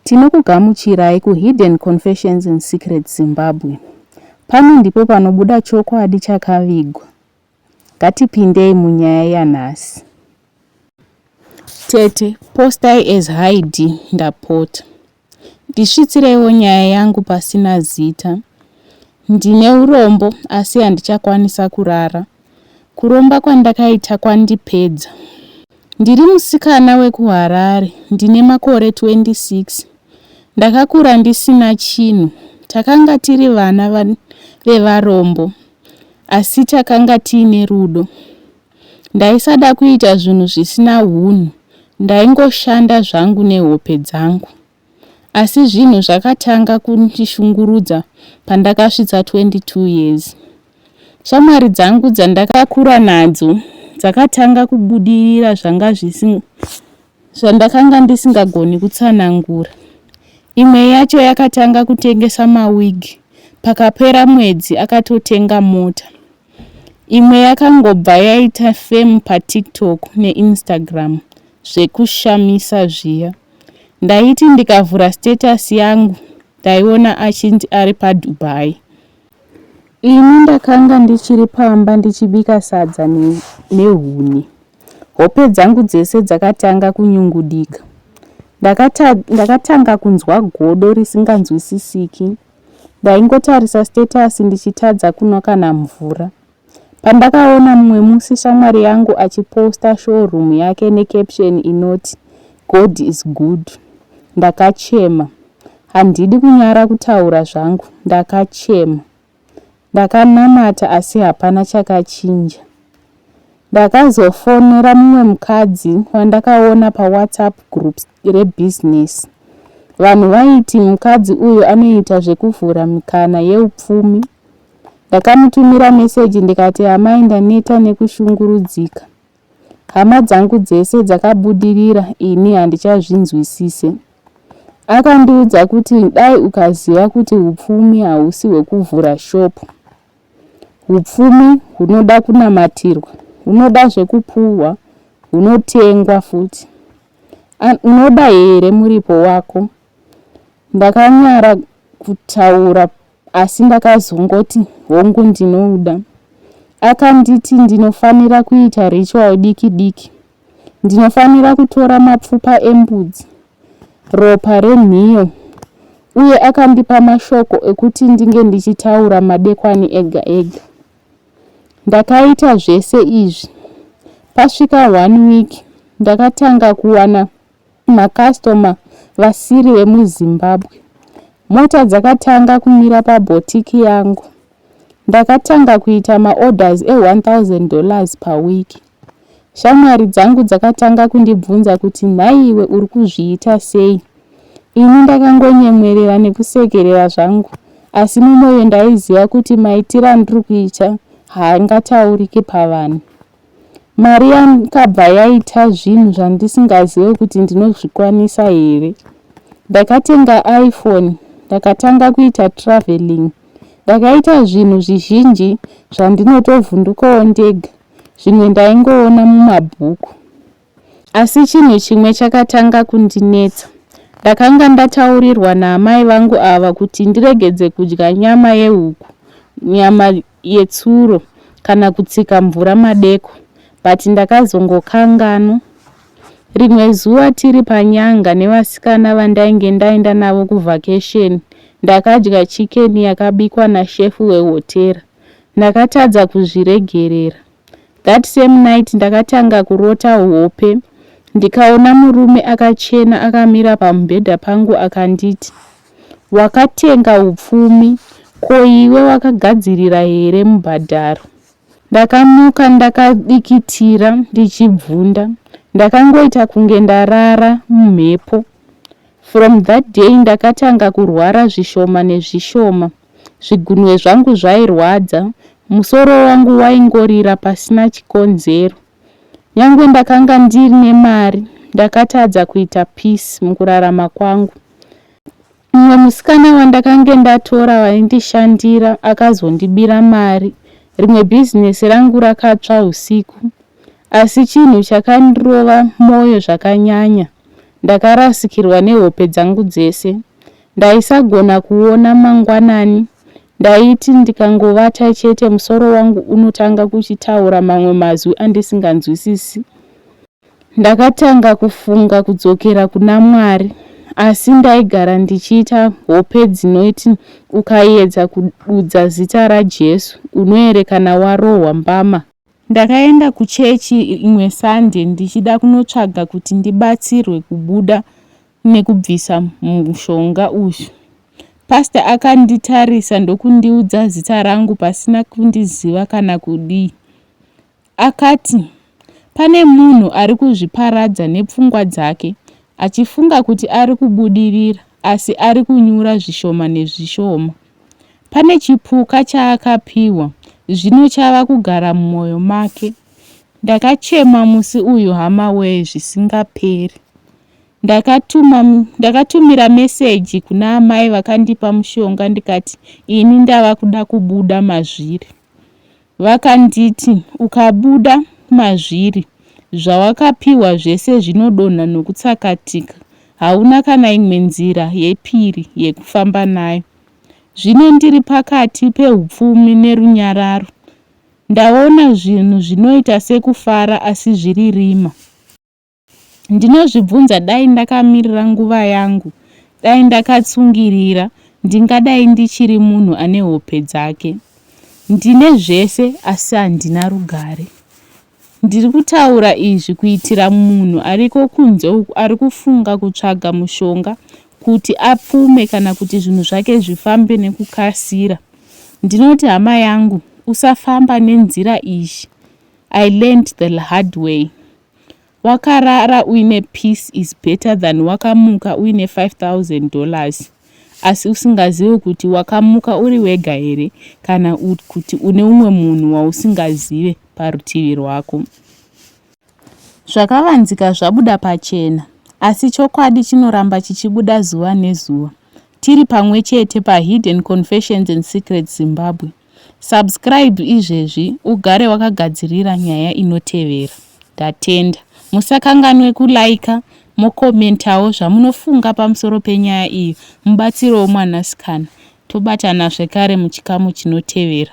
Tinokugamuchirai ku Hidden Confessions in Secret Zimbabwe. Pano ndipo panobuda chokwadi chakavigwa. Ngatipindei munyaya yanhasi. Tete, postai as Haidhi ndapota. Ndisvitsireiwo nyaya yangu pasina zita. Ndine urombo asi handichakwanisa kurara Kuromba kwandakaita kwandipedza. Ndiri musikana wekuHarare, ndine makore 26. Ndakakura ndisina chinhu. Takanga tiri vana vevarombo asi takanga tiine rudo. Ndaisada kuita zvinhu zvisina hunhu, ndaingoshanda zvangu nehope dzangu. asi zvinhu zvakatanga kundishungurudza pandakasvitsa 22 years. Shamwari dzangu dzandakakura nadzo dzakatanga kubudirira zvanga zvandakanga ndisingagoni kutsanangura. Imwe yacho yakatanga kutengesa mawigi, pakapera mwedzi akatotenga mota. Imwe yakangobva yaita fame paTiktok neInstagram zvekushamisa zviya. Ndaiti ndikavhura status yangu ndaiona achinzi ari paDubai. Ini ndakanga ndichiri pamba ndichibika sadza nehuni. Hope dzangu dzese dzakatanga kunyungudika. Ndakata, ndakatanga kunzwa godo risinganzwisisiki. Ndaingotarisa status ndichitadza kunwa kana mvura. Pandakaona mumwe musi shamwari yangu achiposta showroom yake necaption inoti God is good ndakachema. Handidi kunyara kutaura zvangu ndakachema. Ndakanamata asi hapana chakachinja. Ndakazofonera mumwe mukadzi wandakaona paWhatsApp group rebusiness. Vanhu vaiti mukadzi uyu anoita zvekuvhura mikana yeupfumi Ndakamutumira meseji ndikati amai ndaneta nekushungurudzika. Hama dzangu dzese dzakabudirira ini handichazvinzwisise. Akandiudza kuti dai ukaziva kuti upfumi hausi hwekuvhura shopu. Upfumi hunoda kunamatirwa, hunoda zvekupuhwa, hunotengwa futi. Unoda here muripo wako? Ndakanyara kutaura asi ndakazongoti hongu ndinouda. Akanditi ndinofanira kuita ritual diki diki. Ndinofanira kutora mapfupa embudzi, ropa renhiyo uye akandipa mashoko ekuti ndinge ndichitaura madekwani ega ega. Ndakaita zvese izvi. Pasvika one week ndakatanga kuwana Macustomer vasiri vemuZimbabwe. Mota dzakatanga kumira paboutique yangu. Ndakatanga kuita maorders e1000 dollars per week. Shamwari dzangu dzakatanga kundibvunza kuti nhaiwe uri kuzviita sei? Ini ndakangonyemwerera nekusekerera zvangu asi mumoyo ndaiziva kuti maitiro andiri kuita haangatauriki pavanhu. Mari yakabva yaita zvinhu zvandisingazive kuti ndinozvikwanisa here. Ndakatenga iPhone ndakatanga kuita traveling. Ndakaita zvinhu zvizhinji zvandinotovhundukawo ndega zvimwe ndaingoona mumabhuku. Asi chinhu chimwe chakatanga kundinetsa. Ndakanga ndataurirwa naamai vangu ava kuti ndiregedze kudya nyama yehuku, nyama yetsuro kana kutsika mvura madeko but ndakazongokanganwa. Rimwe zuva tiri panyanga nevasikana vandainge ndaenda navo kuvhakesheni, ndakadya chikeni yakabikwa nashefu wehotera. Ndakatadza kuzviregerera. That same night ndakatanga kurota hope ndikaona murume akachena akamira pamubhedha pangu akanditi, Wakatenga upfumi, ko iwe wakagadzirira here mubhadharo? Ndakamuka ndakadikitira ndichibvunda. Ndakangoita kunge ndarara mumhepo. From that day ndakatanga kurwara zvishoma nezvishoma. zvigunwe zvangu zvairwadza, musoro wangu waingorira pasina chikonzero. Nyangwe ndakanga ndiine mari, ndakatadza kuita peace mukurarama kwangu. Mumwe musikana wandakange ndatora waindishandira akazondibira mari, rimwe bhizinesi rangu rakatsva usiku. Asi chinhu chakandirova mwoyo zvakanyanya, ndakarasikirwa nehope dzangu dzese. Ndaisagona kuona mangwanani. Ndaiti ndikangovata chete musoro wangu unotanga kuchitaura mamwe mazwi andisinganzwisisi. Ndakatanga kufunga kudzokera kuna Mwari asi ndaigara ndichiita hope dzinoiti ukayedza kududza zita raJesu unoerekana warohwa mbama. Ndakaenda kuchechi imwe Sunday ndichida kunotsvaga kuti ndibatsirwe kubuda nekubvisa mushonga uyu. Pastor akanditarisa ndokundiudza zita rangu pasina kundiziva kana kudii. Akati, Pane munhu ari kuzviparadza nepfungwa dzake achifunga kuti ari kubudirira asi ari kunyura zvishoma nezvishoma. Pane chipuka chaakapiwa zvino chava kugara mumwoyo make. Ndakachema musi uyu hama wee zvisingaperi. Ndakatuma, ndakatumira meseji kuna amai vakandipa mushonga ndikati ini ndava kuda kubuda mazviri. Vakanditi ukabuda mazviri zvawakapiwa zvese zvinodonha nokutsakatika, hauna kana imwe nzira yepiri yekufamba nayo. Zvino ndiri pakati peupfumi nerunyararo. Ndaona zvinhu zvinoita sekufara asi zviri rima. Ndinozvibvunza dai ndakamirira nguva yangu, dai ndakatsungirira, ndingadai ndichiri munhu ane hope dzake. Ndine zvese asi handina rugare. Ndiri kutaura izvi kuitira munhu ariko kunze uku ari kufunga kutsvaga mushonga kuti apfume kana kuti zvinhu zvake zvifambe nekukasira. Ndinoti hama yangu, usafamba nenzira iyi. I learned the hard way. Wakarara uine peace is better than wakamuka uine 5000 dollars asi usingazive kuti wakamuka uri wega here kana kuti une umwe munhu wausingazive parutivi rwako. Zvakavanzika zvabuda pachena, asi chokwadi chinoramba chichibuda zuva nezuva. Tiri pamwe chete paHidden Confessions and Secrets Zimbabwe. Subscribe izvezvi ugare wakagadzirira nyaya inotevera. Ndatenda. Musakanganwe kulaika mokomentawo zvamunofunga pamusoro penyaya iyi mubatsirewo mwanasikana. Tobatana zvekare muchikamu chinotevera.